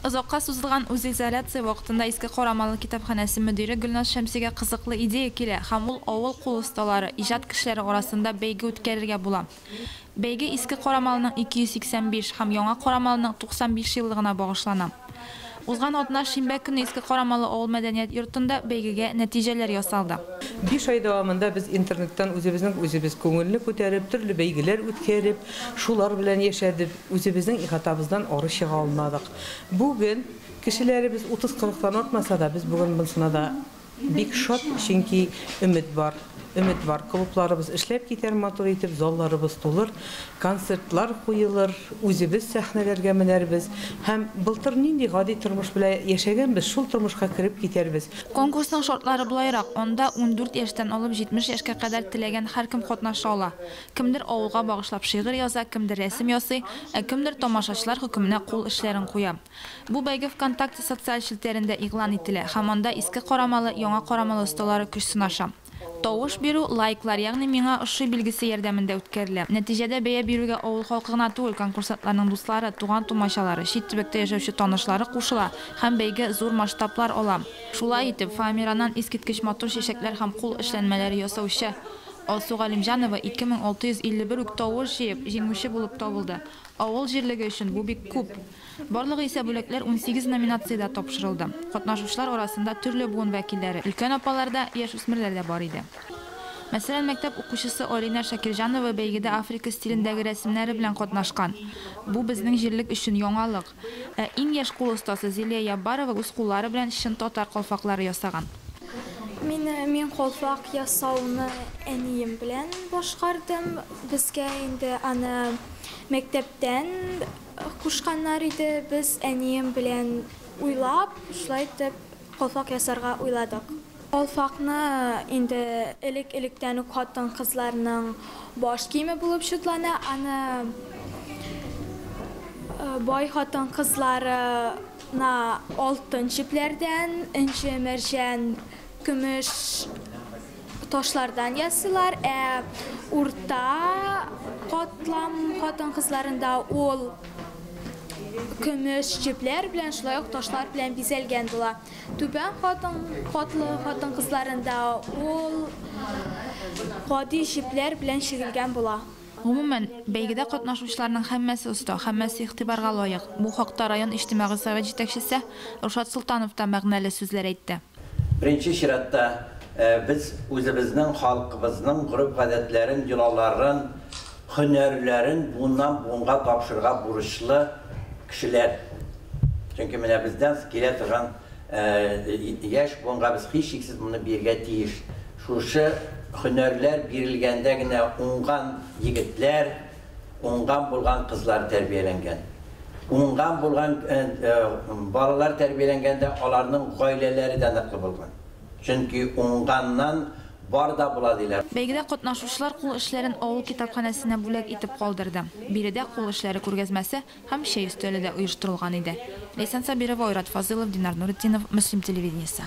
Озакка сузылган үзизоляция вакытында Иске Карамалы китапханәсе мөдире Гөлназ Шәмсигә кызыклы идея килә һәм ул авыл кул осталары, иҗат кешеләре арасында бәйге үткәрергә була. Бәйге Иске Карамалының 285 һәм Яңа Карамалының 95 еллыгына багышлана. Узган атна шимбә көнне Иске Карамалы авыл мәдәният йортында бәйгегә нәтиҗәләр ясалды. Биш ай дәвамында без интернеттан үзебезнең үзебез күңелне күтәреп, төрле бәйгеләр үткәреп, шулар белән яшәдеп, Үзебезнең ихатабыздан ары чыга алмадык. Бүген кешеләребез утыз-кырыктан артмаса да, без бүген монсына да бик шат, чөнки өмет бар. Өмет бар, клубларыбыз эшләп китәр матур итеп, залларыбыз тулыр, концертлар куелыр, үзебез сәхнәләргә менәрбез һәм былтыр нинди гади тормыш белән яшәгәнбез, шул тормышка кереп китәрбез. Конкурсның шартлары болайрак, анда ундүрт яшьтән алып җитмеш яшькә кадәр теләгән һәркем катнаша ала. Кемдер авылга багышлап шигырь яза, кемдер рәсем ясый, ә кемдер тамашачылар хөкеменә кул эшләрен куя. Бу бәйге ВКонтакте социаль челтәрендә игълан ителә һәм анда иске карамалы, яңа карамалы осталары көч сынаша. Тавыш бирү, лайклар, ягъни Миңа ошый билгесе ярдәмендә үткәрелә. Нәтиҗәдә бәя бирүгә авыл халкы гына түгел, конкурсантларның дуслары, туган-тумачалары, чит төбәктә яшәүче танышлары кушыла һәм бәйге зур масштаблар ала. Шулай итеп, фоамираннан искиткеч матур чәчәкләр һәм кул эшләнмәләре ясаучы Алсу Галимҗанова 2651 үк тавыш җыеп, җиңүче булып табылды. Авыл җирлеге өчен бу бик күп. Барлыгы исә бүләкләр унсигез номинациядә тапшырылды. Катнашучылар арасында төрле буын вәкилләре, өлкән апалар да, яшүсмерләр дә бар иде. Мәсәлән, мәктәп укучысы Алинә Шакирҗанова бәйгедә Африка стилендәге рәсемнәре белән катнашкан. Бу безнең җирлек өчен яңалык. Ә иң яшь кул остасы Зилия Яббарова үз куллары белән чын татар калфаклары ясаган. Мине, мин калфак ясауны әнием белән башкардым. Безгә инде аны мәктәптән кушканнар иде. Без әнием белән уйлап, шулай итеп калфак ясарга уйладык. Калфакны инде элек-электән үк хатын-кызларның баш киеме булып чутлана. Аны бай хатын-кызларына алтын чүпләрдән, энҗе, мәрҗән, көмеш ташлардан ясыйлар. Ә урта катлам хатын-кызларында ул көмеш чүпләр белән, шулай ук ташлар белән бизәлгән була. Түбән катлы хатын-кызларында ул гади җепләр белән чигелгән була. Гомумән, бәйгедә катнашучыларның һәммәсе оста, һәммәсе игътибарга лаек. Бу хакта район иҗтимагый совет җитәкчесе Рушат Солтанов та мәгънәле сүзләр әйтте. Беренче чиратта, без үзебезнең халкыбызның гореф-гадәтләрен, йолаларын, Һөнәрләрен буыннан буынга тапшырырга бурычлы кешеләр. Чөнки менә бездән килә торган яшь буынга без һичшиксез моны бирергә тиеш. Шушы һөнәрләр бирелгәндә генә уңган егетләр, уңган булган кызлар тәрбияләнгән. Уңган булган балалар тәрбияләнгәндә аларның гаиләләре дә ныклы булган. Чөнки уңганнан бар да була, диләр. Бәйгедә катнашучылар кул эшләрен авыл китапханәсенә бүләк итеп калдырды. Биредә кул эшләре күргәзмәсе һәм чәй өстәле дә оештырылган иде. Ләйсән Сабирова, Айрат Фазылов, Динар Нуретдинов, Мөслим телевидениесе.